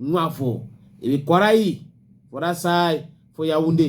nwa for e be kwarai for that side for yaounde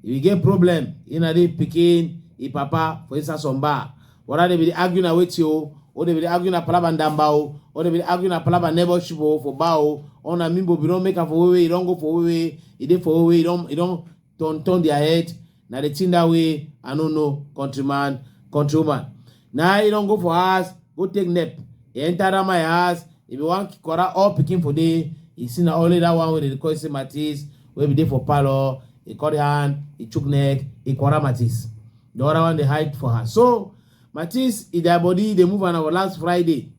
e be get problem e na dey pikin e papa for inside some bar whether they be dey argue na wetin o or they be dey argue na palaba ndamba o or they be dey argue na palaba neighborship o for bar o or na mimbo be don make am for wewe e don go for wewe e dey for wewe e don e don turn turn their head na the thing that way i no know countryman countrywoman na you don go for house go take nap e enter that my house e be wan corral all pikin for there e see na only that one wey dey call say matis wey be dey for parlour e cut hand e chook neck e corral matis the other one dey hide for her so matis e their body dey move on our last friday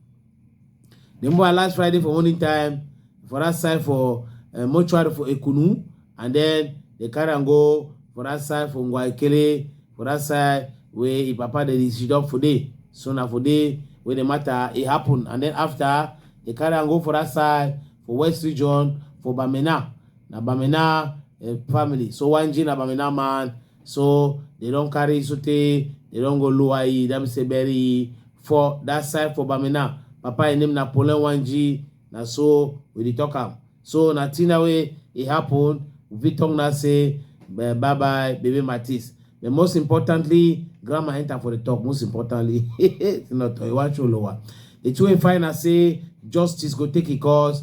Then boy last Friday for morning time for that side for uh, mortuary for Ekunu, and then they carry and go for that side for Ngwaikele, for that side where his papa they sit up for day. So now for day where the matter it happened, and then after they carry and go for that side for West Region for Bamena. Now Bamena uh, family. So one G na Bamena man. so they don carry sotey they don go lower e that mean say bury e for that side for bamina papa im name na polen wanji na so we dey talk am so na thing na wey e happen we fit talk na say bye bye baby matis but most importantly grandma enter for the talk most importantly not iwacho lower the two wey find na say justice go take e course